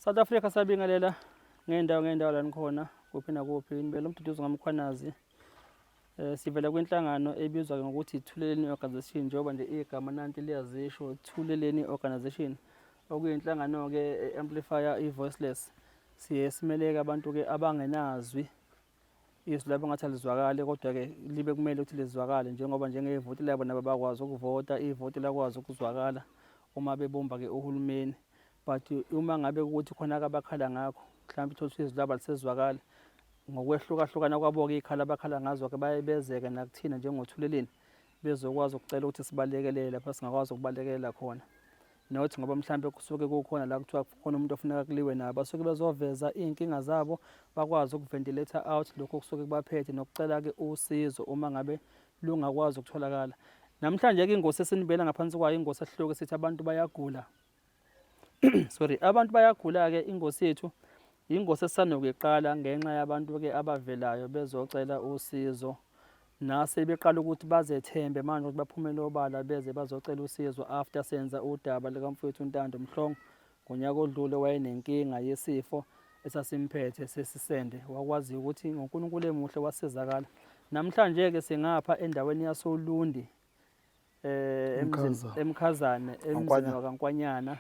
South Africa sabingelela ngeendawo ngeendawo la nikhona kuphi nakuphi nibele umduduzi ngamkhwanazi um sivela kwinhlangano ebizwa ke ngokuthi ithuleleni organization njengoba nje igama nanti liyazisho thuleleni organization okuyinhlangano-ke e-amplifya i-voiceless siye simeleke abantu-ke abangenazwi izwi labo ngathi alizwakali kodwa-ke libe kumele ukuthi lizwakale njengoba njengevoti labo nabo bakwazi ukuvota ivoti lakwazi ukuzwakala uma bebumba-ke uhulumeni but uma ngabe ukuthi khona kabakhala ngakho mhlawumbe uthole ukuthi izwi labo alisezwakali ngokwehlukahlukana kwabo-ke iy'khala abakhala ngazo-ke bayebezeke nakuthina njengothuleleni bezokwazi ukucela ukuthi sibalekelele lapha singakwazi ukubalekelela khona nothi ngoba mhlawumbe kusuke kukhona la kuthiwa khona umuntu ofuneka kuliwe naye basuke bezoveza iy'nkinga zabo bakwazi ukuventilator out lokho kusuke kubaphethe nokucela-ke usizo uma ngabe lungakwazi ukutholakala namhlanje-ke ingosi esinibela ngaphansi kwayo ingosi ehluke sithi abantu bayagula sorry abantu bayagula-ke ingosi yethu yingosi esanokuyiqala ngenxa yabantu-ke abavelayo bezocela usizo nase beqala ukuthi bazethembe manje ukuthi baphumele obala beze bazocela usizo after senza udaba likamfowethu untando mhlongo ngonyaka odlule wayenenkinga yesifo esasimphethe sesisende wakwazi ukuthi ngonkulunkulu emuhle wasizakala namhlanje-ke singapha endaweni yasolundi eh emzini Mkhaza. emkhazane emzini Nkwanya. wakankwanyana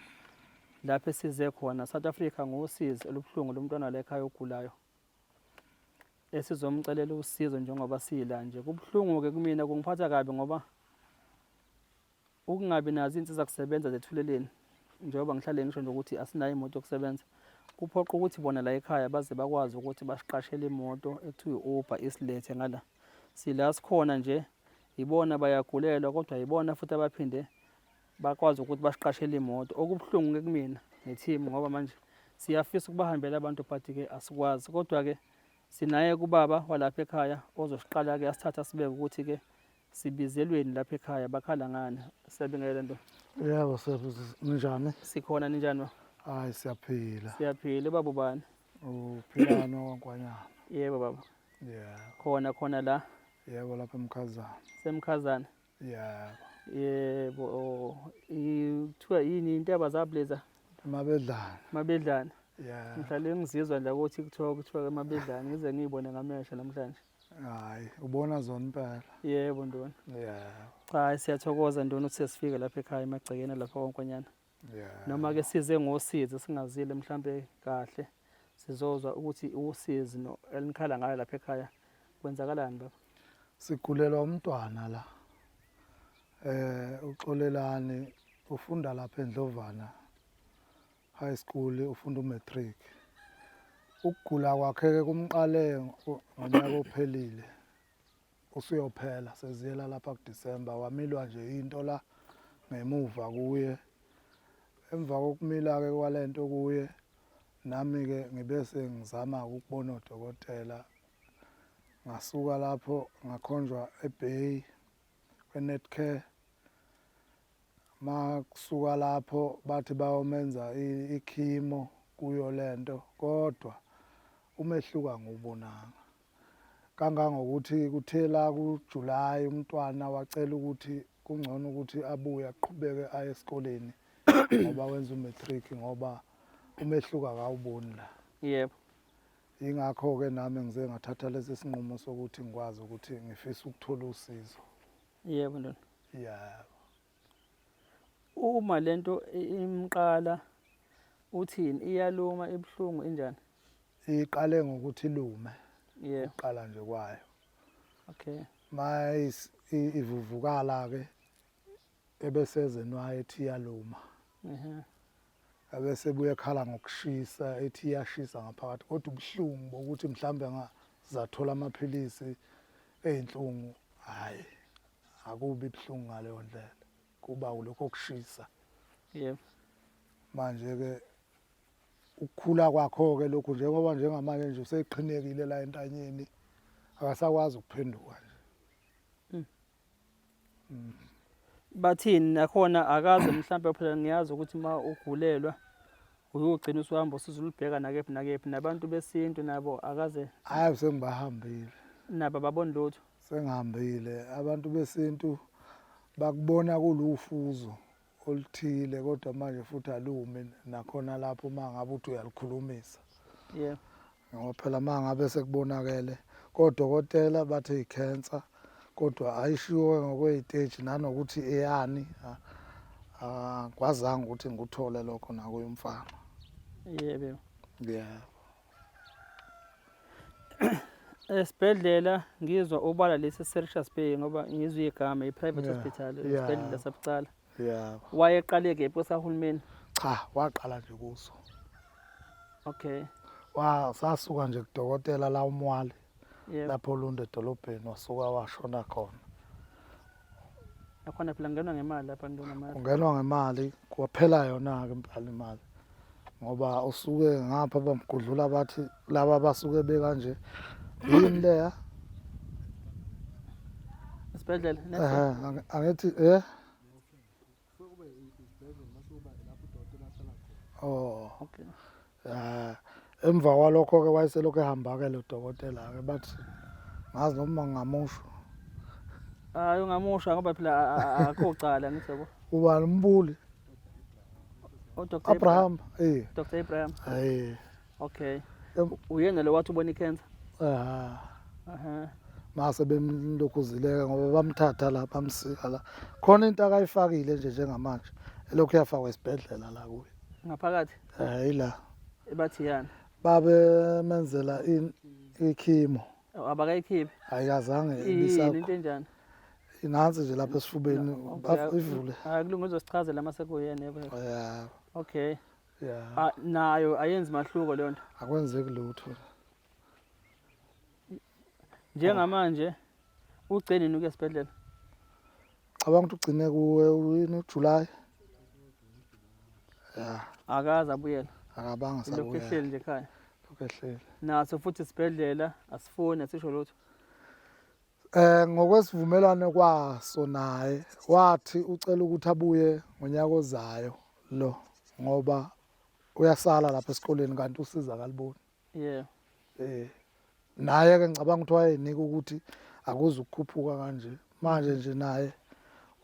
lapho esize khona South Africa ngosizi olubuhlungu lomntwana lekhaya ogulayo esizomcelela usizo njengoba sila nje kubuhlungu ke kumina kungiphatha kabi ngoba ukungabi nazo insiza kusebenza zethuleleni njengoba ngihlale ngisho nje ukuthi asinayo imoto yokusebenza kuphoqa ukuthi bona la ekhaya baze bakwazi ukuthi basiqashele imoto ekuthiwa i-uber isilethe ngala sila sikhona nje Yibona bayagulelwa kodwa yibona futhi abaphinde bakwazi ukuthi basiqashele imoto. Okubuhlungu-ke kumina ne-team ngoba manje siyafisa ukubahambela abantu but-ke asikwazi kodwa-ke sinaye kubaba walapha ekhaya ozosiqala-ke asithathe asibeke ukuthi-ke sibizelweni lapha ekhaya bakhala ngani siyabingelela nto yebo ninjani sikhona ninjani ba hayi siyaphila siyaphila ubaba ubani uphilano wankwanyana yebo baba yeah khona khona la Yebo lapha emkhazana. Semkhazana. Yeah. Yebo. Kuthiwa yini intaba zableza? Mabedlana. Mabedlana. Yeah. Ngihlale ngizizwa nje ukuthi kuthiwa kuthiwa ke mabedlana ngize ngiyibone ngamehlo namhlanje. Hayi, ubona zona impela. Yebo ndona. Yeah. Cha siyathokoza ndona ukuthi sesifike lapha ekhaya emagcekeni lapha konkonyana. yeah. noma ke size ngosizi singazile mhlambe kahle sizozwa ukuthi usizi no elinikhala ngayo lapha ekhaya kwenzakalani baba sigulelwa umntwana la eh uxolelani ufunda lapha endlovana high school ufunda umatric ukugula kwakhe ke kumqale ngonyaka ophelile usuyophela seziyela lapha kuDisemba wamilwa nje into la ngemuva kuye emva kokumila-ke kwale nto kuye nami-ke ngibe sengizama ukubona odokotela ngasuka lapho ngakhonjwa ebay kwe-netcare makusuka lapho bathi bayomenza ikhimo kuyo le nto kodwa umehluko angiwubonanga kangangokuthi kuthe la kuJulayi umntwana wacela ukuthi kungcono ukuthi abuye aqhubeke aye esikoleni ngoba wenza umatric ngoba umehluko akawuboni la yebo ingakho-ke nami ngize ngathatha lesi sinqumo sokuthi ngikwazi ukuthi ngifisa ukuthola usizo yebo ndona yebo uma lento imqala uthini iyaluma ibuhlungu injani iqale ngokuthi lume yeah. uqala nje kwayo okay mayis ivuvukala ke ebeseze nwaye ethi yaluma ehe abese buye khala ngokushisa ethi yashisa ngaphakathi kodwa ubuhlungu bokuthi mhlambe ngazathola amaphilisi ezinhlungu hayi akubi buhlungu ngaleyo ndlela kuba ulokho kushisa yebo manje ke ukukhula kwakho-ke lokhu njengoba njengamanje nje useqhinekile la entanyeni akasakwazi ukuphenduka nje hmm. Hmm. bathini nakhona akaze mhlawumbe phela ngiyazi ukuthi uma ugulelwa uyogcina usuhamba usiza ulubheka nakephi nakephi nabantu besintu nabo akaze hayi sengibahambile nabo baboni lutho sengihambile abantu besintu bakubona kulufuzo oluthile kodwa manje futhi alumi nakhona lapho uma ngabe uthi uyalikhulumisa yeah ngoba phela uma ngabe sekubonakele kodokotela bathi i-cancer kodwa ayishiwo ngokweyiteji nanokuthi eyani akwazanga ukuthi ngikuthole lokho nakuye umfana yebo yeah esibhedlela ngizwa obala lesi seRichards Bay ngoba ngizwe igama i-private yeah. hospital esibhedlela yeah. sabucala yeah. wayeqale kephi kwesahulumeni cha waqala nje kuso okay wa sasuka nje kudokotela la umwali yep. lapho lunda edolobheni wasuka washona khona Nakhona phela ngenwa ngemali lapha ntona mali. Ungenwa ngemali kwaphela yona ke impala imali. Ngoba usuke ngapha bamgudlula bathi laba basuke bekanje. Yini leya? Isibhedlela. Ehe, angithi eh Oh. Okay. Eh emva kwalokho ke wayeselokhu ehamba ke lo dokotela ke bathi ngazi noma ngamusho. Hayi ungamusha ngoba phela akho cala ngithi yabo. Ubani umbuli? uDr Abraham eh Dr Abraham eh Okay. Uyena lo wathi ubona icancer? Ah. Aha. Mase bemlokhuzileka ngoba bamthatha la bamsika la. Khona into akayifakile nje njengamanje. Elokhu yafakwa esibhedlela la kuye. Ngaphakathi? Eh ila. Ebathi yana. Babe menzela in ikhimo. Abakayikhiphi? Ayikazange ibisakho. Into enjani? Inansi nje lapha esifubeni bavule. Hayi kulungile uzosichazela mase kuyena yebo. Yeah. Okay. yeah. Ah, nayo ayenzi mahluko leyo nto akwenzeki lutho njengamanje ugcine nini ukuya esibhedlela cabanga ukuthi ugcine kuwe uyini ujuly ya akaze abuyela akabanga lokhu sabuya ehleli nje ekhaya lokhu ehleli naso futhi isibhedlela asifuni asisho lutho Eh ngokwesivumelwano kwaso naye wathi ucela ukuthi abuye ngonyaka ozayo lo ngoba uyasala lapha esikoleni kanti usiza kaliboni. Yeah. Eh naye ke ngicabanga ukuthi wayenika ukuthi akuze ukukhuphuka kanje. Manje nje naye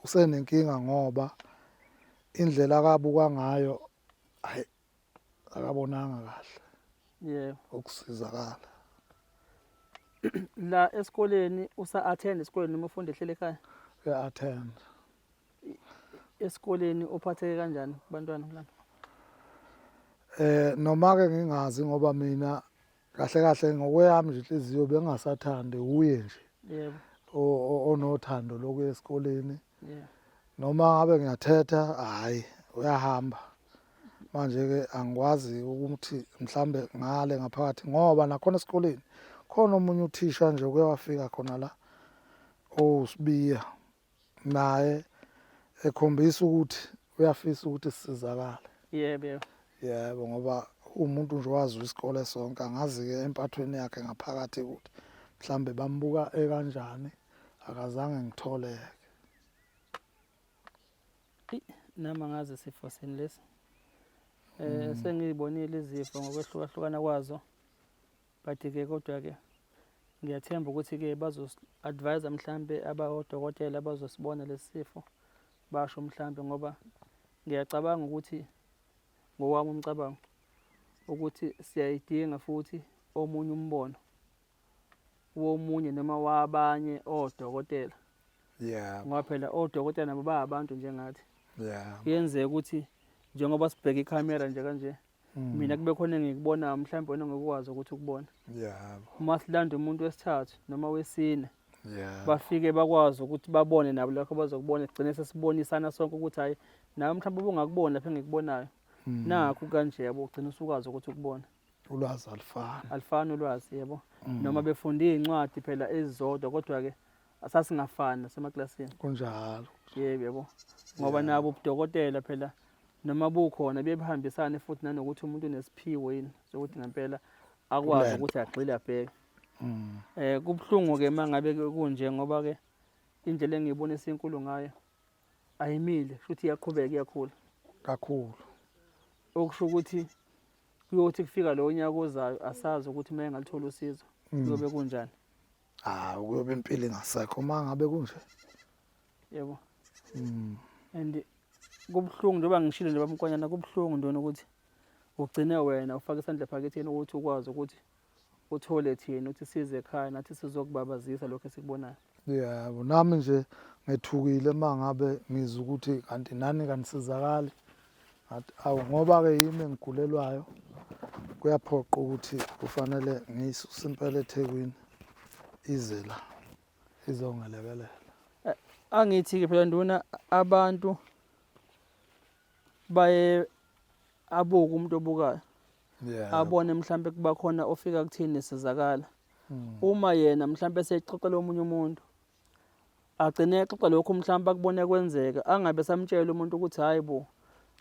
usenenkinga ngoba indlela akabuka ngayo akabonanga kahle yebo ukusizakala la esikoleni usa attend esikoleni noma ufunda ehlele ekhaya ya attend esikoleni uphatheke kanjani kubantwana kulana eh noma ke ngingazi ngoba mina kahle kahle ngokweyami nje inhliziyo bengasathandi uye nje yebo onothando lokuya esikoleni noma ngabe ngiyathetha hayi uyahamba manje-ke angikwazi ukuthi mhlawumbe ngale ngaphakathi ngoba nakhona esikoleni khona omunye uthisha nje uke wafika khona la owusibiya naye ekhombisa ukuthi uyafisa ukuthi sisizakale yebo yebo yebo ngoba umuntu nje wazi isikole sonke angazi-ke empathweni yakhe ngaphakathi ukuthi mhlawumbe bambuka ekanjani akazange ngitholeke nama ngazi sifo sini lesi um sengiyibonile izifo ngokwehlukahlukana kwazo but ke kodwa ke ngiyathemba ukuthi ke bazosi-advise mhlampe abawodokotela abazosibona lesi sifo basho mhlampe ngoba ngiyacabanga ukuthi ngowami umcabango ukuthi siyayidinga futhi omunye umbono womunye noma wabanye odokotela yeah ngoba phela odokotela nabo ba abantu njengathi yeah kuyenzeka ukuthi njengoba sibheka ikhamera nje kanje Hmm. mina kube khona engikubonayo mhlawumbe wena ngikwazi ukuthi ukubona yebo uma silanda umuntu wesithathu noma wesine yeah. bafike bakwazi ukuthi babone nabo lakho bazokubona sigcine sesibonisana sonke ukuthi hayi nawe mhlawumbe ubungakuboni lapha engikubonayo hmm. nakho kanje yabo ugcina usukwazi ukuthi ukubona ulwazi alifani alifani ulwazi yebo hmm. noma befunda iy'ncwadi phela ezizodwa kodwa-ke asasingafani nasemaklasini kunjalo yebo yebo ngoba nabo ubudokotela phela noma bukhona bebehambisane futhi nanokuthi umuntu unesiphiwo yini sokuthi ngempela akwazi Kulento. ukuthi agxile abheke Mm. eh kubuhlungu ke mangabe ke kunje ngoba ke indlela engiyibonisa inkulu ngayo ayimile futhi iyaqhubeka iyakhula kakhulu okusho ukuthi kuyothi kufika lo nyaka ozayo asazi ukuthi uma engalithola usizo kuyobe kunjani Ah ukuyobe impilo ingasekho uma ngabe kunje. Yebo. Mm. And kubuhlungu njengoba ngishilo nje bamkwanyana kubuhlungu ntona ukuthi ugcine wena ufake isandla phaketheni ukuthi ukwazi ukuthi uthole thina ukuthi size ekhaya nathi sizokubabazisa lokho esikubonayo. Yebo nami nje ngethukile mangabe ngizwa ukuthi kanti nani kanisizakali. ngathi awu ngoba-ke yimi engigulelwayo kuyaphoqa ukuthi kufanele ngiyisuse impela ethekwini ize la izongelekelela eh, angithi-ke phela nduna abantu baye abuke umuntu obukayo yeah. abone mhlampe kuba khona ofika kuthini nesizakala hmm. uma yena mhlampe sexoxela omunye umuntu agcine exoxa lokhu mhlawumbe akubone kwenzeka angabe samtshela umuntu ukuthi hayi bo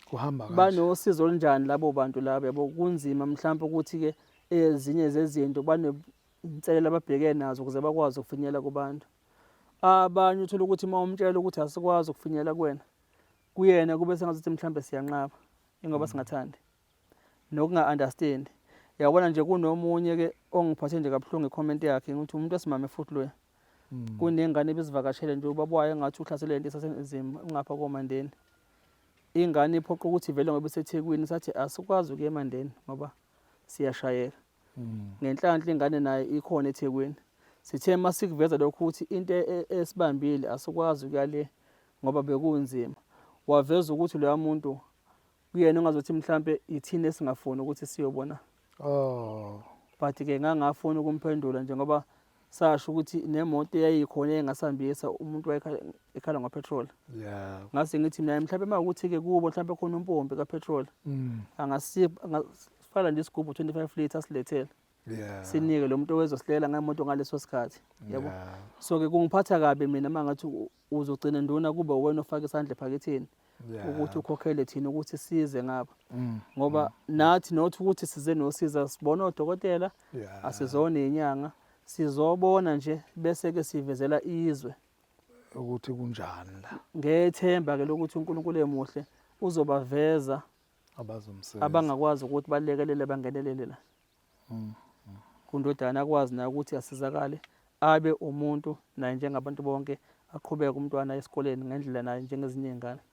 kuhamba kanje banosizo olunjani labo bantu laba yabo kunzima mhlawumbe ukuthi ke ezinye zezinto banenselela ababhekene nazo ukuze bakwazi ukufinyelela kubantu abanye uthola ukuthi uma umtshela ukuthi asikwazi ukufinyelela kuwena kuyena kube sengathi mhlawumbe siyanqaba ingoba mm. singathandi nokunga understand yabona nje kunomunye ke ongiphathe nje kabuhlungu icomment yakhe ngithi umuntu esimame futhi loya hmm. kunengane ebizivakashele nje ubaba wayo engathi uhlasele into esasenzima ngapha komandeni ingane iphoqa ukuthi vele ngoba isethekwini sathi asikwazi ukuya emandeni ngoba siyashayeka hmm. ngenhlanhla ingane naye ikhona ethekwini sithe uma sikuveza lokhu ukuthi into e, e, esibambile asikwazi ukuya le ngoba bekunzima waveza ukuthi loya muntu kuyena ongazothi mhlampe yithina esingafuni ukuthi siyobona oh but ke ngangafuni ukumphendula nje ngoba sasho ukuthi nemoto eyayikhona engasambisa umuntu wayekhala ngopetrol yeah ngase ngithi mina mhlawumbe uma ukuthi ke kubo mhlawumbe khona umpompi kapetrol mm. angasifala nje isigubhu 25 liters silethele yeah sinike lo muntu owezosihlela ngemoto ngaleso sikhathi yabo so ke kungiphatha kabi mina mangathi uzogcina nduna kube uwena ofaka isandla ephaketheni ukuthi ukhokhele thina ukuthi size ngapha mm. ngoba mm. nathi not ukuthi size nosiza sibona odokotela asizona inyanga sizobona nje bese ke sivezela izwe ukuthi kunjani la ngethemba ke lokuthi uNkulunkulu emuhle uzobaveza abazomsebenza abangakwazi ukuthi balekelele bangenelele la mm. kundodana akwazi naye ukuthi asizakale abe umuntu naye njengabantu bonke aqhubeke umntwana esikoleni ngendlela naye njengezinye iy'ngane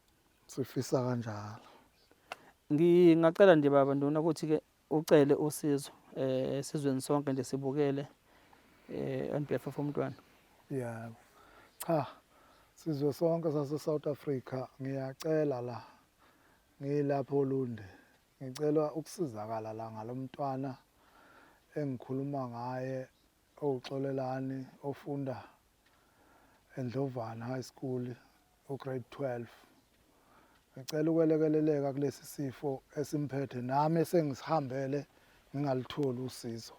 sifisa kanjalo ngingacela nje baba ndona ukuthi-ke ucele usizo um eh, esizweni sonke nje sibukele um on behalf of umntwana ya cha sizwe sonke sase-south africa ngiyacela la ngiyilapho olunde Ngicela ukusizakala la ngalomntwana engikhuluma ngaye owuxolelani ofunda eNdlovana High School ugrade 12 ngicela ukwelekeleleka kulesi sifo esimphethe nami esengisihambele ngingalutholi usizo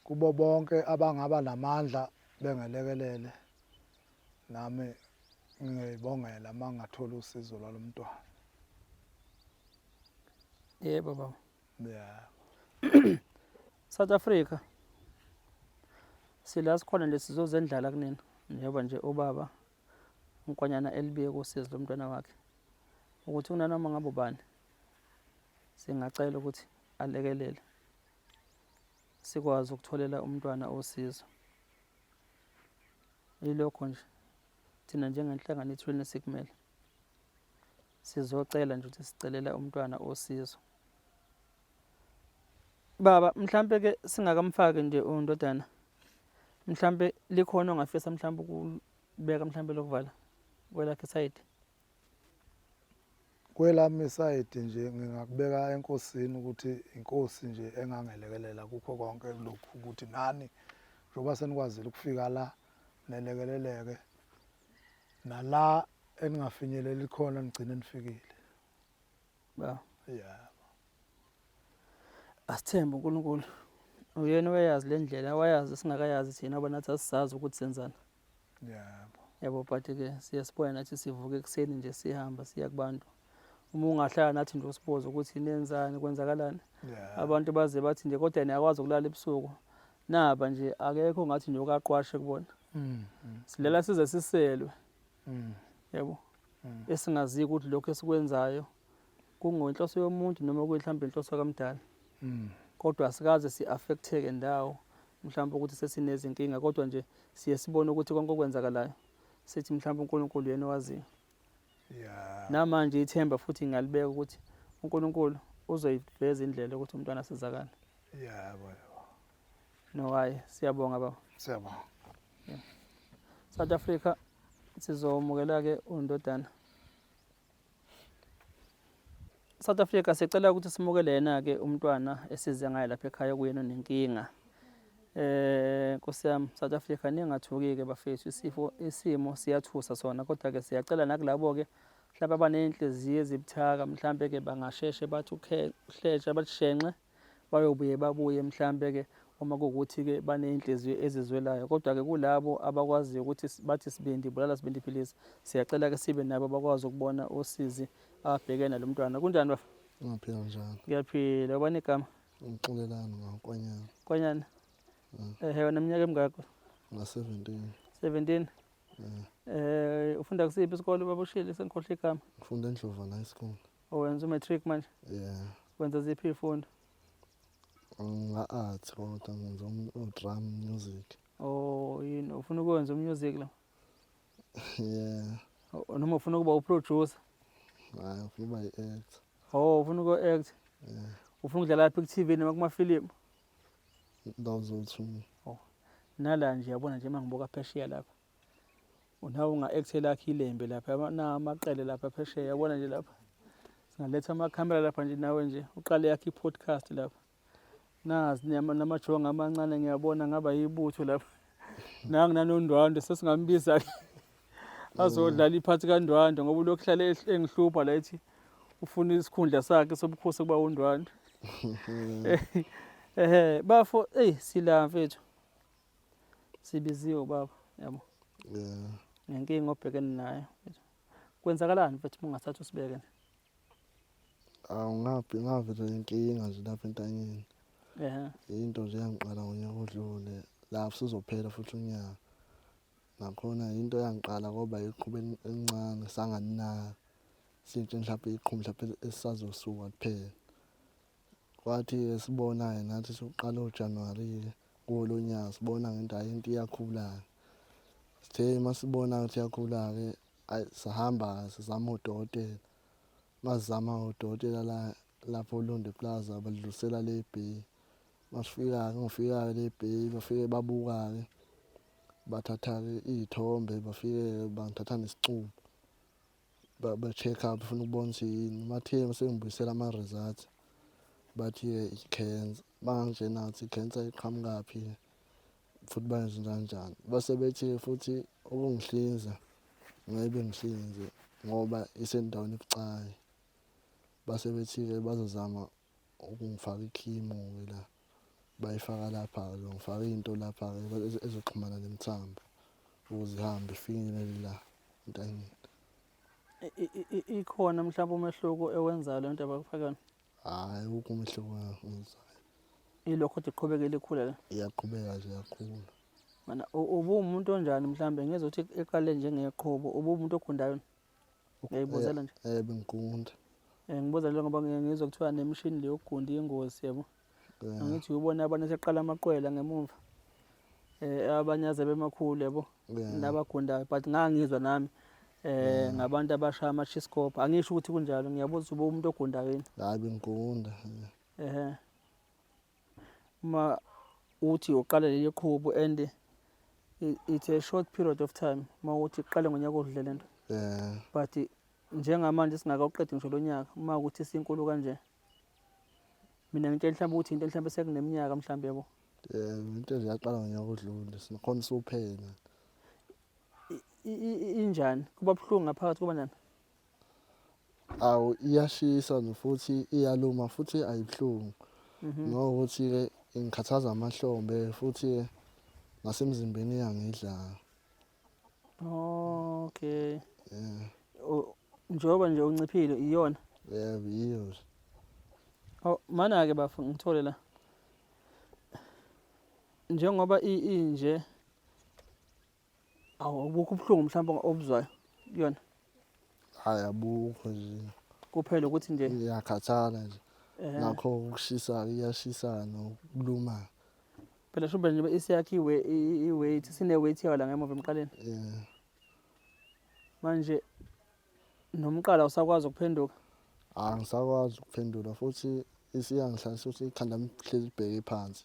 Kubo bonke abangaba namandla bengelekelele nami ngiyoyibongela uma ngingathola usizo lwalo mntwana. Yebo baba. Yeah. South Africa sila sikhona nje sizozendlala kunina njengoba nje ubaba unkwanyana elibiye kosizi lomntwana wakhe ukuthi kunanoma ngabe ubani singacela ukuthi alekelele sikwazi ukutholela umntwana osizo yilokho nje thina njengenhlangano ithuleni sikumele sizocela nje ukuthi sicelela umntwana osizo baba mhlambe ke singakamfaki nje undodana mhlambe likhona ongafisa mhlambe ukubeka mhlambe lokuvala kwelakhe side Kwelami isayidi nje ngingakubeka enkosini ukuthi inkosi nje engangelekelela kukho konke lokhu ukuthi nani njengoba senikwazile ukufika la nelekeleleke nala eningafinyeleli khona nigcine nifikile ba yeah asithembe uNkulunkulu uyena oyazi lendlela wayazi singakayazi thina bona thatha sazi ukuthi senzani yabo yabo but ke siyasibuya nathi sivuke ekuseni nje sihamba siya kubantu uma ungahlala nathi nje usibuze ukuthi nenzani kwenzakalani abantu baze bathi nje kodwa niyakwazi ukulala ebusuku naba nje akekho ngathi nje okaqwashe kubona mm, mm. silala size siselwe mm. yabo esingazi ukuthi lokho esikwenzayo kungenhloso yomuntu noma kuyihlambe inhloso kamdala mm. kodwa asikaze si-affecteke ndawo mhlawumbe ukuthi sesinezinkinga kodwa nje siye sibone ukuthi konke okwenzakalayo sithi mhlawumbe unkulunkulu yena owaziyo yeah. namanje ithemba futhi ngalibeka ukuthi unkulunkulu uzoyiveza indlela ukuthi umntwana asizakale yeah, no hayi siyabonga baba siyabonga yeah. south africa sizomukela-ke undodana South Africa sicela ukuthi simukele yena-ke umntwana esize ngaye lapha ekhaya kuyena onenkinga eh Nkosi yami South Africa ningathuki-ke bafethu isifo isimo siyathusa sona kodwa-ke siyacela nakulabo-ke mhlawumbe abaney'nhliziyo ezibuthaka mhlawumbe-ke bangasheshe bathi uhlesha balushenxe bayobuye babuye mhlampe ke uma kuwukuthi ke baney'nhliziyo ezizwelayo kodwa ke kulabo abakwaziyo ukuthi bathi sibindi bulala sibindi philisi siyacela ke sibe nabo bakwazi ukubona usizi abheke nalo mntwana kunjani bafa ngiyaphila njalo ngiyaphila ubani igama ngixolelani ngakwanyana kwanyana mm. ehe wena mnyaka emngakho nga-seventeen seventeen mm. eh ufunda kusiphi isikole babushile sengikhohle igama ngifunda endlovana high school Owenza umatric manje? Yeah. Wenza ziphi izifundo? Nga-art kodwa ngenza u-drum music. Oh, yini ufuna ukwenza umusic la? Yeah. O- Noma ufuna ukuba uproducer? Hayi ufuna uba yi-act. Oh, ufuna uku-act? Yeah. Ufuna ukudlala lapha ku-TV noma kumafilimu? Ndawo zowu-two. Nala nje yabona nje uma ngibuka phesheya lapha. unawe unga-actela akhe ilembe lapha namaqele lapha phesheya yabona nje lapha singaletha amakhamera lapha nje nawe nje uqale yakhe i-podcast lapha nazi namajonga amancane ngiyabona ngaba yibutho lapha nangu nanondwandwe sesingambiza-ke azodlala iphathi kandwandwe ngoba ulokhu hlale engihlupha la ethi ufuna isikhundla sakhe sobukhosi kuba undwandwe ehe bafo eyi sila mfethu sibiziwe ubaba yabo yeah nenkinga obhekene nayo kwenzakalani mfethu ungathatha usibeke nje awu ngaphi ngavele inkinga nje lapha entanyeni ehe into nje yangiqala ngonyaka odlule lapho sizophela futhi unyaka nakhona into yangiqala koba iqhuba elin- elincane sanganinaka sintshe mhlawumbe iqhubu mhlawumbe esisazosuka kuphela Kwathi esibona-ke nathi sokuqala oJanuwari-ke kuwo lo nyaka sibona ngento hhayi into iyakhula-ke. Sithe uma sibona ukuthi iyakhula-ke ayi sahamba-ke sizama odokotela. Uma sizama odokotela la lapho oLundi Plaza balidlulisela le Bay. Uma sifika-ke ngifika-ke le Bay bafike babuka-ke bathatha-ke iy'thombe bafike-ke bangithatha nesicubu. ba-check up funa ukubona ukuthi yini bathe sengibuyisela ama-results bathi-ke i-cancer bangangitshena ukuthi i-cancer iqhamukaphi futhi bangenzenanjani base bethi futhi ukungihlinza ngeke bengihlinze ngoba isendaweni ebucayi base bethi-ke bazozama ukungifaka ikhimu-ke la bayifaka lapha-ke ngifaka into lapha-ke ezoxhumana nemithambo ukuze ihambe ifinyelele la entanyeni ikhona mhlawumbe umehluko ewenzayo le nto abakufaka yona hhayi ukho umehluko engizayo ilokho ukuthi iqhubekele ikhula la iyaqhubeka nje yakhula mana ubuwumuntu onjani mhlawumbe ngezokuthi iqale njengeqhubo ubuwumuntu okhundayo yona Uyayibuzela nje. Eh bengiqunda. Eh ngibuza nje ngoba ngizwe kuthiwa nemishini le yokugunda ingozi yabo. Eh. Angithi ubona abanye seqala amaqwela ngemumva. Eh abanye aze bemakhulu yabo. Eh. Nabagundayo but ngangizwa nami. eh ngabantu abashaya ama chiscope angisho ukuthi kunjalo ngiyabuza uba umuntu ogundayo yini hayi bengigunda ehe uma uthi uqala leli qhubu and it's a short period of time uma uthi uqale ngonyaka odlule lento yeah. but njengamanje singakawuqedi ngisho lo nyaka uma ukuthi sinkulu kanje mina ngitshela mhlawumbe ukuthi into mhlawumbe sekuneminyaka mhlawumbe yabo yeah into nje yaqala ngonyaka odlule sinakhona sophela injani kuba buhlungu ngaphakathi kuba njani awu iyashisa futhi iyaluma futhi ayibuhlungu mhm. ngokuthi-ke ingikhathaza amahlombe futhi-ke nasemzimbeni iyangidlala okay yeah. njengoba nje unciphile iyona yeah yiyo oh mana-ke bafo ngithole la njengoba inje awu ubukho ubuhlungu mhlawumbe obuzwayo kuyona hayi abukho nje kuphela ukuthi nje iyakhathala nje eh. nakho ukushisa iyashisa nokuluma phela shube nje isiyakhe iwe iweight sine weight yayo la ngemuva emqaleni yeah manje nomqala usakwazi ukuphenduka angisakwazi ukuphendula futhi isiyangihlalisa ukuthi ikhanda lihleli libheke phansi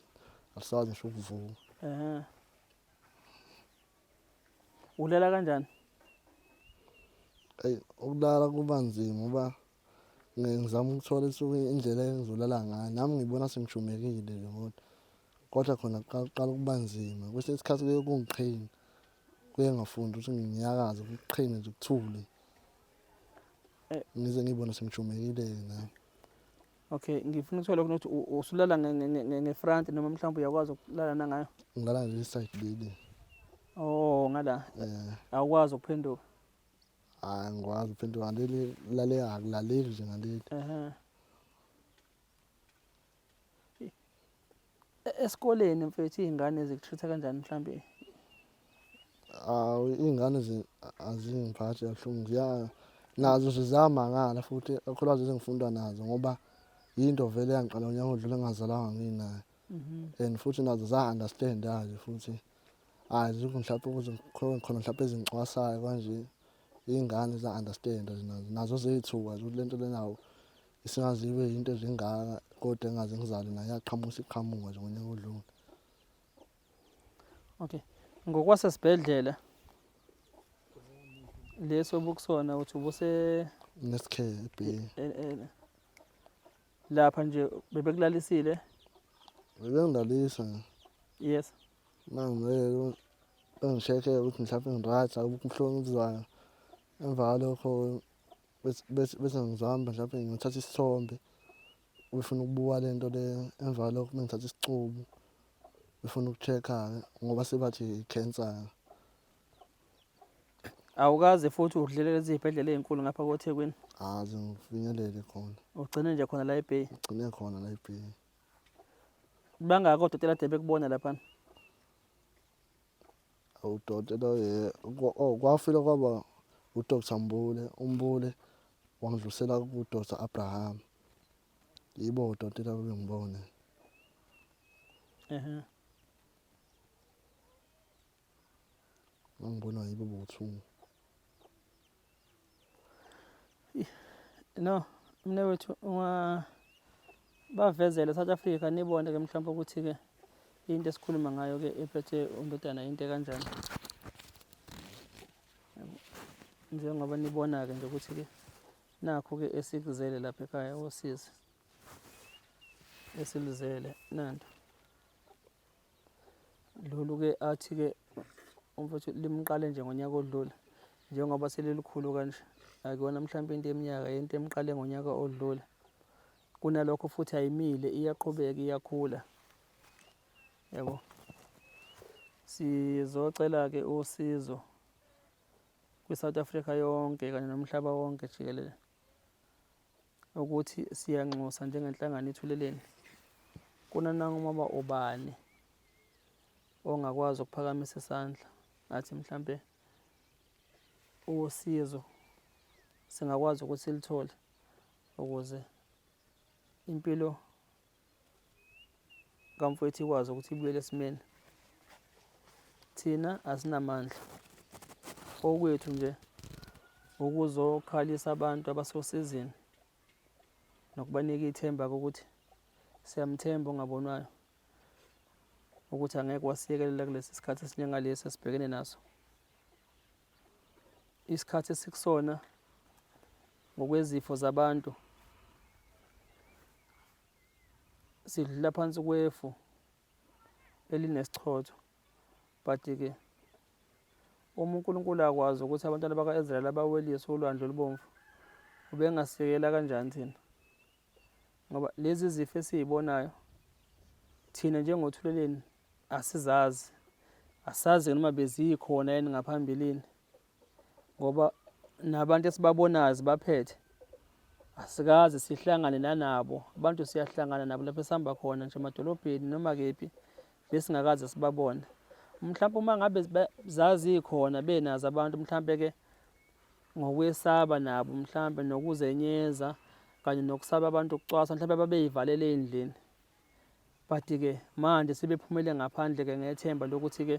alisakwazi ngisho ukuvuka eh Ulala kanjani? Eyi ukulala kuba nzima uba ngizama ukuthola isuke indlela engizolala ngayo nami ngibona sengishumekile nje kodwa kodwa khona kuqala ukuba nzima kwesinye isikhathi kuye kungiqhina kuye ngafundi ukuthi nginyakaze kuqhine nje kuthule eh. ngize ngibone sengishumekile-ke nami Okay, ngifuna ukuthola ukuthi usulala ngefront noma mhlawumbe uyakwazi ukulala nangayo. Ngilala nje side leli. Oh, ngala. Eh. Awukwazi ukuphenduka. Hayi, ah, ngikwazi ukuphenduka leli lale akulaleli nje ngaleli. Ehhe. E-, esikoleni mfethu izingane zikutreat kanjani mhlambe awu iy'ngane azingiphathi kabuhlungu ziya nazo nje ziyamangala futhi kakhulukazi ezengifunda nazo ngoba yinto vele yangiqala unyaka odlule ngingazalanga nginayo mhm. and futhi nazo za-understand-aje futhi hhayi zikho mhlawumpe ukuze khona mhlawumpe ezingicwasayo kanje iy'ngane za-understand-a nazo zey'thuka ukuthi le nto lenawo Singazi ibe yinto ezingaka kodwa engaze ngizale naye yaqhamuka isiqhamuka nje ngonyaka odlule. Okay. Ngokwasesibhedlela leso obukusona uthi ubuse Nesikhere ebheki. e- e- lapha nje bebekulalisile. Bebengilalisa nje. Yes. Mangibeke bengishekhe ukuthi mhlawumbe ngiryt akukho ubuhlungu obuzwayo. Emva kwalokho bese ngizihamba mhlawumbe ngithatha isithombe befuna ukubuka le nto le emva lokho uma ngithatha isicubu befuna uku-check-a-ke ngoba sebathi i-cancer awukaze futhi udlele lezi zibhedlela ey'nkulu ngapha kothekwini aze ngifinyelele khona ugcine nje khona la ebay ugcine khona la ebay bangaki odokotela de bekubona laphana udoti lo ye oh, kwafile kwaba udr mbule umbule wangidlulisela kudr abraham yibo udoti labo bengibone ehe ngangibona yibo bothungu no mne wethu ungabavezela south africa nibone ke mhlawumpe ukuthi ke into esikhuluma ngayo ke ephethe undodana into kanjani njengoba nibona-ke nje ukuthi-ke nakho-ke esikuzele lapha ekhaya wosizi esiluzele nanto Lolu-ke athi-ke umfowethu limqale nje ngonyaka odlule njengoba selilikhulu kanje akuyona mhlawumpe into eminyaka into emqale ngonyaka odlule kunalokho futhi ayimile iyaqhubeka iyakhula yabo sizocela-ke usizo kwi-south africa yonke kanye nomhlaba wonke jikelele ukuthi siyanxusa njengenhlangano ithuleleni kunanangoba ubani ongakwazi ukuphakamisa isandla ngathi mhlampe usizo singakwazi ukuthi silithole ukuze impilo kamfowethu ikwazi ukuthi ibuyele esimeni thina asinamandla okwethu nje ukuzokhalisa abantu abasosizini nokubanika ithemba ukuthi siyamthemba ongabonwayo ukuthi angeke wasiyekelela kulesi sikhathi esinjengalesi esibhekene naso isikhathi esikusona ngokwezifo zabantu sidlula phansi kwefu elinesichotho but-ke uma uNkulunkulu akwazi ukuthi abantwana baka-Israyeli abawelise ulwandle olubomvu ubengasikela kanjani thina ngoba lezi zifo esizibonayo thina njengothuleleni asizazi asazi noma bezikhona yini ngaphambilini ngoba nabantu esibabonayo zibaphethe asikaze sihlangane nanabo abantu siyahlangana nabo lapho esihamba khona nje emadolobheni noma kephi besingakaze sibabone mhlawumbe uma ngabe zazikhona benazo abantu mhlawumbe ke ngokwesaba nabo mhlawumbe nokuzenyeza kanye nokusaba abantu ukucwasa mhlawumbe babeyivalele endlini but-ke manje sebephumele ngaphandle-ke ngethemba lokuthi-ke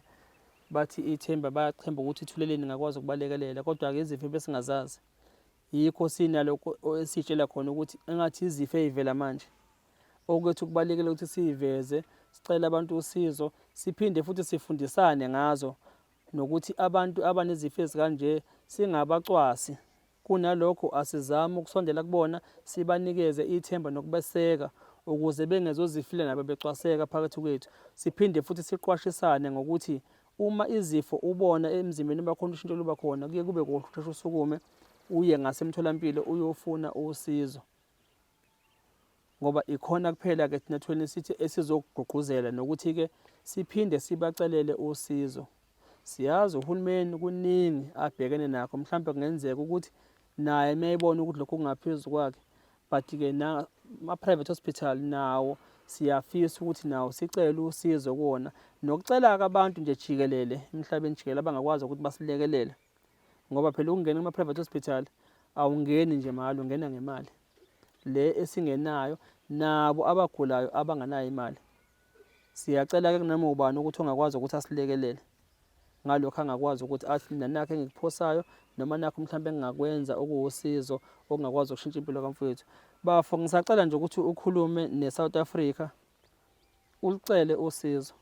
bathi ithemba bayachemba ukuthi ithuleleni ngakwazi ukubalekelela kodwa-ke izifo besingazazi yikho sinalokho esitshela khona ukuthi engathi izifo ey'vela manje okwethu kubalekele ukuthi siyiveze sicele abantu usizo siphinde futhi sifundisane ngazo nokuthi abantu abanezifo ezikanje singabacwasi Kunalokho, asizame ukusondela kubona, sibanikeze ithemba nokubeseka, ukuze bengezozifile nabo becwaseka phakathi kwethu. Siphinde futhi siqwashisane ngokuthi uma izifo ubona emzimbeni uba khona ushintsho luba khona, kuye kube kuhle usheshe usukume uye ngasemtholampilo uyofuna usizo. ngoba ikhona kuphela ke thina thweleni sithi esizokugqugquzela nokuthi-ke siphinde sibacelele usizo siyazi uhulumeni kuningi abhekene nakho mhlawumbe kungenzeka ukuthi naye uma ebona ukuthi lokhu kungaphezu kwakhe but-ke ama-private hospital nawo siyafisa ukuthi nawo sicele usizo kuwona nokucela-ke abantu nje jikelele emhlabeni jikelele abangakwazi ukuthi basilekelele ngoba phela ukungena kuma-private hospital awungeni nje mahhala ungena ngemali le esingenayo nabo abagulayo abanganayo imali siyacela-ke kunoma ubani ukuthi ongakwazi ukuthi asilekelele ngalokho angakwazi ukuthi athi nanakho engikuphosayo noma nakho mhlawumbe engingakwenza okuwusizo okungakwazi ukushintsha impilo kamfowethu bafo ngisacela nje ukuthi ukhulume ne-south africa ulicele usizo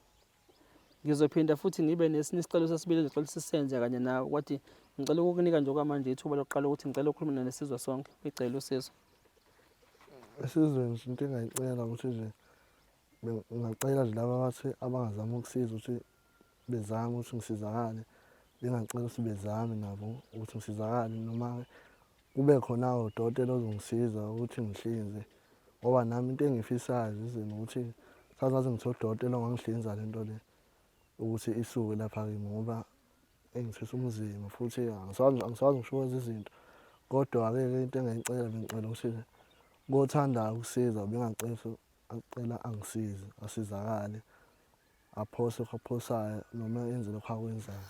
Ngizophinda futhi ngibe nesinye isicelo sesibili engicela sisenze kanye nawe kwathi ngicela ukukunika nje okwamanje ithuba lokuqala ukuthi ngicela ukukhuluma nalo sizwe sonke ngicela usizo. Esizweni nje into engayicela ukuthi nje ngingacela nje laba abathi abangazama ukusiza ukuthi bezame ukuthi ngisizakale bengacela ukuthi bezame nabo ukuthi ngisizakale noma kube khona udokotela ozongisiza ukuthi ngihlinze ngoba nami into engiyifisayo zizini ukuthi sazazi ngithe udokotela ongangihlinza le nto le ukuthi isuke lapha kimi ngoba engithwisa umzima futhi angisakwazi ngisho ukwenza izinto kodwa-ke ke into engayicela bengicela ukuthi kothandayo ukusiza bengacela acela angisize asizakale aphose okuphosayo noma enze lokho akwenzayo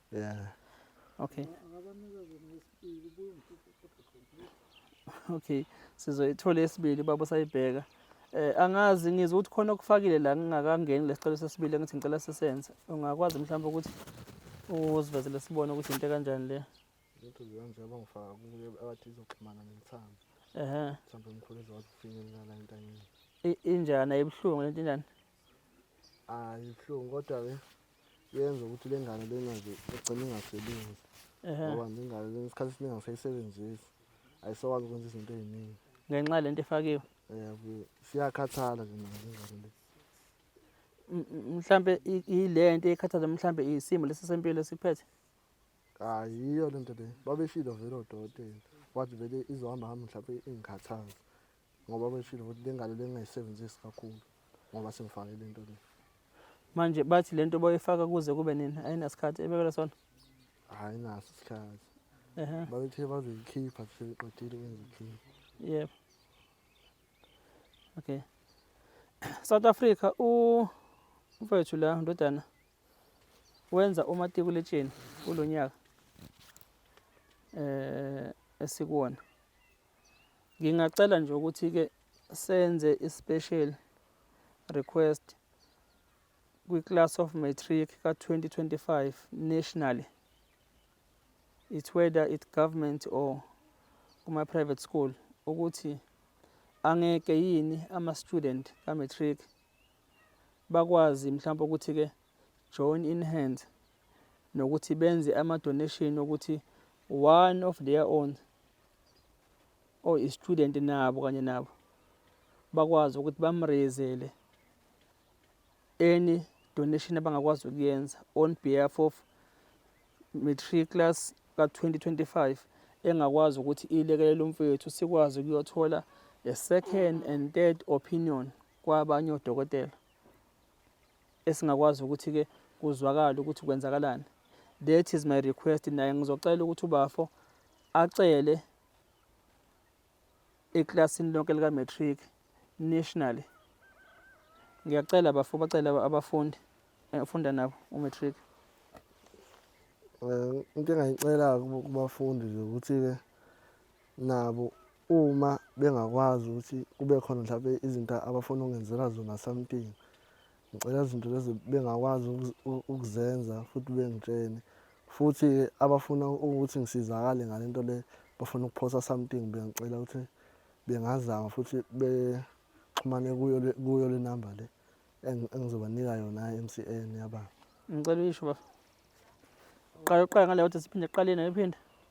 Yeah. Okay. Okay. Sizoyithola esibili baba sayibheka. Eh angazi ngizwe ukuthi khona okufakile la ngingakangeni lesicelo sesibili ngithi ngicela sisenze. Ungakwazi mhlawumbe ukuthi uzivezele sibone ukuthi into kanjani le. Into ziyanje abangifaka kuye abathi izoxhumana nentsambo. Ehhe. Mhlawumbe umkhulu ezokwazi ukufinyelela la entanyeni. I- Injani ayibuhlungu lento injani? hayi ibuhlungu kodwa ke yenza ukuthi le ngane lena nje egcine ingasebenzi ngoba nje ingane lena isikhathi esiningi angisayisebenzisi ayisakwazi ukwenza izinto ey'ningi ngenxa lento efakiwe um siyakhathala nje nayo le ngane le mhlambe yile nto ekhathaza mhlambe isimo lesi sempilo esiphethe hayi yiyo le nto le babeshilo vele odokotela wathi vele izohamba hamba mhlawumbe ingikhathaza ngoba beshilo ukuthi le ngalo lengingayisebenzisi kakhulu ngoba sengifake le nto le manje bathi le nto boyifaka kuze kube nini ayinasikhathi ebekela sona hhayi naso isikhathi ehe babethe bazoyikhipha sebeqedile ukwenza ikhipha yebo okay south africa u mfowethu la ndodana wenza umatikuletsheni kulo nyaka um esikuwona Ngingacela nje ukuthi-ke senze i-special request kwi-class of matric ka-2025 nationally it whether it government or kuma-private school ukuthi angeke yini ama-student ka-matric bakwazi mhlawumbe ukuthi-ke join in hands nokuthi benze ama-donation okuthi one of their own or i-student nabo kanye nabo bakwazi ukuthi bamreyezele any donation abangakwazi ukuyenza on behalf of matriculous ka-2025 engakwazi ukuthi ilekelele umfowethu sikwazi ukuyothola a second and third opinion kwabanye odokotela esingakwazi ukuthi ke kuzwakala ukuthi kwenzakalani that is my request naye ngizocela ukuthi ubafo acele eklasini lonke lika matric nationally ngiyacela bafo bacela abafundi engifunda eh, nabo umatric eh, into engayicela kubafundi nje ukuthi-ke nabo uma bengakwazi ukuthi kube khona mhlawumbe izinto abafuna ukungenzela zona something ngicela izinto lezi bengakwazi ukuzenza futhi bengitshene futhi-ke abafuna ukuthi ngisizakale ngale nto le bafuna ukuphosa something bengicela ukuthi bengazama futhi bexhumane kuyo kuyo le number le engizobanika yona MCN yaba ngicela uyisho bafo qala uqala ngale wathi siphinde qale nayo iphinde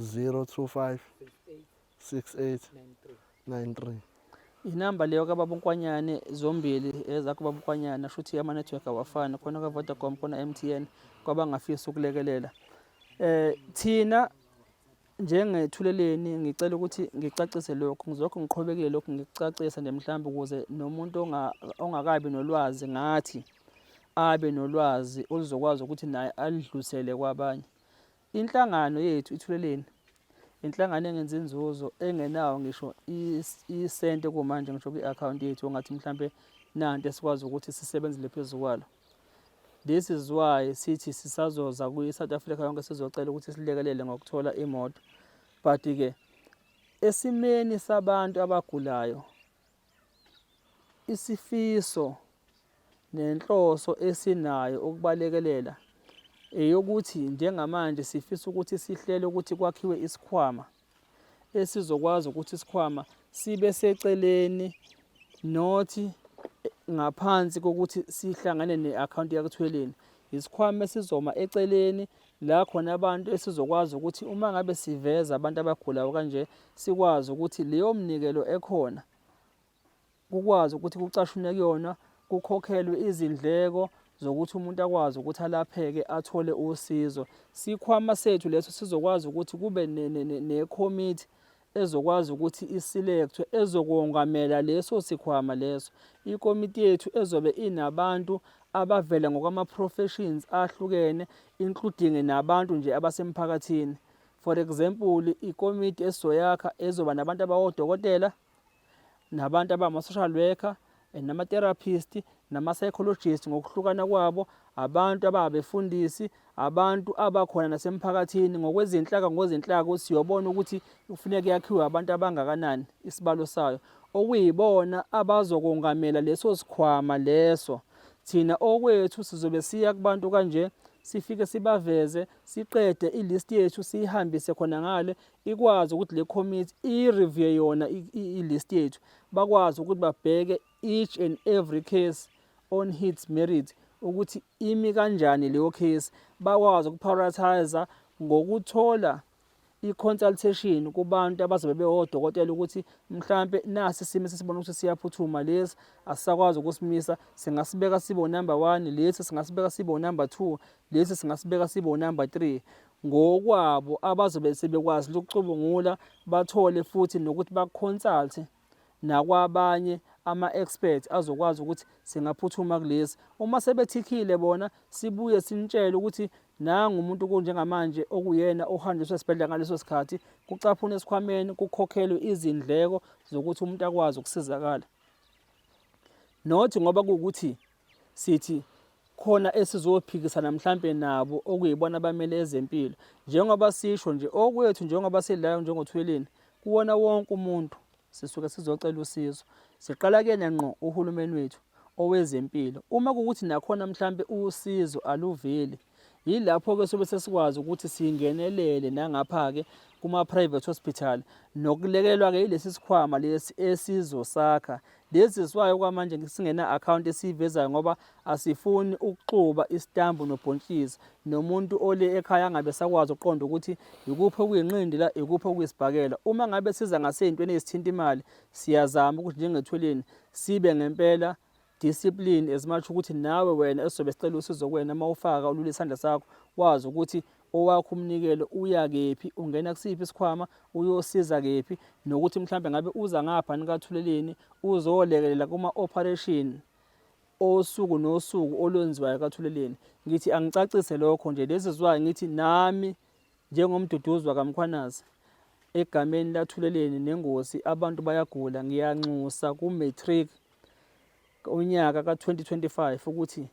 025 68 93 inamba leyo kababa unkwanyane zombili ezakho baba unkwanyane asho ukuthi ama-network awafani khona ka-vodacom khona m t n kwabangafisa ukulekelela eh thina njengethuleleni ngicela ukuthi ngicacise lokhu ngizokho ngiqhubekile lokhu ngikucacisa nje mhlawumbe ukuze nomuntu ongakabi nolwazi ngathi abe nolwazi oluzokwazi ukuthi naye alidlusele kwabanye Inhlangano yethu iThuleleni inhlangano engenza inzuzo engenawo ngisho isente kumanje ngisho kwi-akhawunti yethu ongathi mhlampe nanto esikwazi ukuthi sisebenzele phezu kwalo this is why sithi sisazoza kwi-south africa yonke sizocela ukuthi silekelele ngokuthola imoto but-ke esimeni sabantu abagulayo Isifiso nenhloso esinayo ukubalekelela eyokuthi njengamanje sifisa ukuthi sihlele ukuthi kwakhiwe isikhwama esizokwazi ukuthi isikhwama sibe seceleni not ngaphansi kokuthi sihlangane ne-akhawunti yakuthweleni isikhwama esizoma eceleni la khona abantu esizokwazi ukuthi uma ngabe siveza abantu abagulayo kanje sikwazi ukuthi leyo mnikelo ekhona kukwazi ukuthi kucashunwe kuyona kukhokhelwe izindleko zokuthi umuntu akwazi ukuthi alapheke athole usizo sikhwama sethu leso sizokwazi ukuthi kube nekhomithi ezokwazi ukuthi isilekthwe ezokongamela leso sikhwama leso ikomiti yethu ezobe inabantu abavela ngokwama-professions ahlukene including nabantu nje abasemphakathini for example ikomiti esizoyakha ezoba nabantu abawodokotela nabantu abama-social worker eh, nama-therapist nama-psychologist ngokuhlukana kwabo abantu ababefundisi abantu abakhona nasemphakathini ngokwezinhlaka ngozinhlaka siyobona ukuthi kufuneka yakhiwe abantu abangakanani isibalo sayo okuyibona abazokongamela leso sikhwama leso thina okwethu sizobe siya kubantu kanje sifike sibaveze siqede ilist yethu siyihambise khona ngale ikwazi ukuthi le committee i-review yona i-list yethu bakwazi ukuthi babheke each and every case on hits merit ukuthi imi kanjani leyo case bakwazi ukuprioritize ngokuthola i-consultation kubantu abazobe bewodokotela ukuthi mhlampe nasi isimo sesibona ukuthi siyaphuthuma lesi asisakwazi ukusimisa singasibeka sibo number one lesi singasibeka sibo number two lesi singasibeka sibo number three ngokwabo abazobe sebekwazi lokucubungula bathole futhi nokuthi baconsulte nakwabanye ama-expert azokwazi ukuthi singaphuthuma kulesi uma sebethikile bona sibuye simtshele ukuthi nangu umuntu kunjengamanje okuyena ohanjiswa esibhedlela ngaleso sikhathi kucaphuna esikhwameni kukhokhelwe izindleko zokuthi umuntu akwazi ukusizakala not ngoba kuwukuthi sithi khona esizophikisana mhlampe nabo okuyibona abamele ezempilo njengoba sisho nje okwethu njengoba sidlala njengothweleni kuwona wonke umuntu sisuke sizocela usizo siqala kuyena ngqo uhulumeni wethu owezempilo uma kukuthi nakhona mhlampe usizo aluveli Yilapho-ke sobe sesikwazi ukuthi singenelele nangapha-ke kuma-private hospital nokulekelwa-ke yilesi sikhwama lesi esizosakha lezi zwayo kwamanje singena-akhawunti esiyivezayo ngoba asifuni ukuxuba isitambu nobhontshisi nomuntu ole ekhaya angabe sakwazi ukuqonda ukuthi yikuphi okuyinqindila yikuphi okuyisibhakela uma ngabe siza ngasey'ntweni ezithinta imali siyazama ukuthi njengethweleni sibe ngempela discipline as much ukuthi nawe wena esizobe sicela usizo kuwena uma ufaka ulule isandla sakho wazi ukuthi owakho umnikelo uya kephi ungena kusiphi isikhwama uyosiza kephi nokuthi mhlambe ngabe uza ngapha nikathuleleni uzolekelela kuma operation osuku nosuku olwenziwayo kathuleleni ngithi angicacise lokho nje lezi zwayo ngithi nami njengomduduzwa kamkhwanazi egameni lathuleleni nengosi abantu bayagula ngiyanxusa ku matric unyaka ka-2025 ukuthi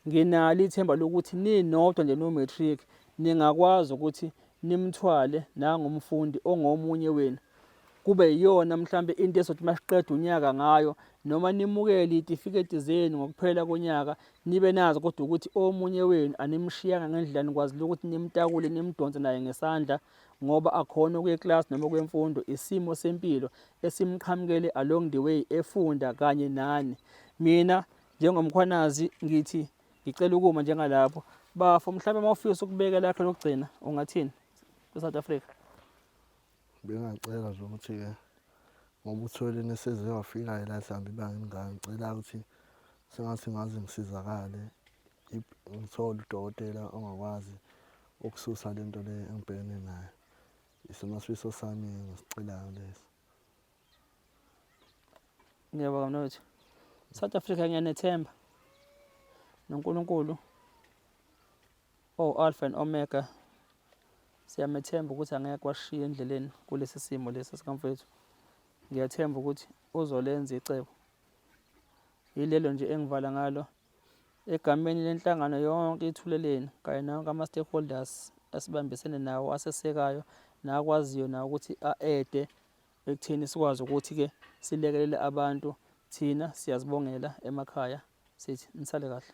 nginalo ithemba lokuthi ninodwa nje no-matric ningakwazi ukuthi nimthwale nangomfundi ongomunye wenu kube yiyona mhlambe into ezothi masiqeda unyaka ngayo noma nimukele itifiketi zenu ngokuphela konyaka nibe nazo kodwa ukuthi omunye wenu animshiyanga ngendlela nikwazi ukuthi nimtakule nimdonse naye ngesandla ngoba akhona ukuya eclass noma kwemfundo isimo sempilo esimqhamukele along the way efunda kanye nani mina njengomkhwanazi ngithi ngicela ukuma njengalapho bafo mhlawumbe uma ufisa ukubeka lakhe lokugcina ungathini kwi-south africa bengacela nje ukuthi-ke ngoba uthwele neseze wafikayo la sihamba ibanga elingaka ngicela ukuthi sengathi ngaze ngisizakale ngithole udokotela ongakwazi ukususa le nto le engibhekene nayo isona sifiso sami ngisicelayo lesi ngiyabonga mnewethu south africa ngiyanethemba nonkulunkulu owu-alpha and omega siyamethemba ukuthi angeke kwashiya endleleni kulesi simo lesi sikamfowethu ngiyathemba ukuthi uzolenza icebo yilelo nje engivala ngalo Egameni lenhlangano yonke iThuleleni kanye nawonke ama-stakeholders asibambisene nawo asesekayo nakwaziyo nawo ukuthi a-ede ekutheni sikwazi ukuthi-ke silekelele abantu thina siyazibongela emakhaya sithi nisale kahle.